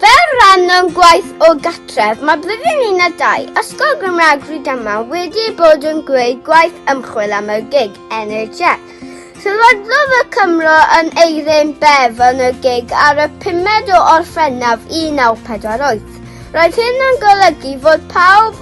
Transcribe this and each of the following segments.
Fel rhan o'n gwaith o gatref, mae blwyddyn un a dau Ysgol Gymraeg Rhydaman wedi bod yn gwneud gwaith ymchwil am y gig NHS. Sylwaddodd y Cymro yn Eirin Bev yn y gig ar y 5 o Orffennaf 1948. Roedd hyn yn golygu fod pawb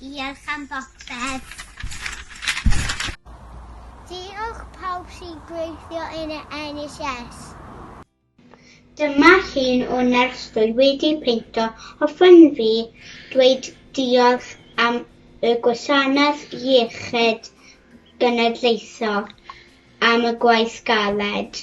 Diolch am bopeth. Diolch pawb sy'n gweithio yn y NHS. Dyma llun o nyrs dwy wedi peinto hoffwn fi dweud diolch am y Gwasanaeth Iechyd Genedlaethol am y gwaith galed.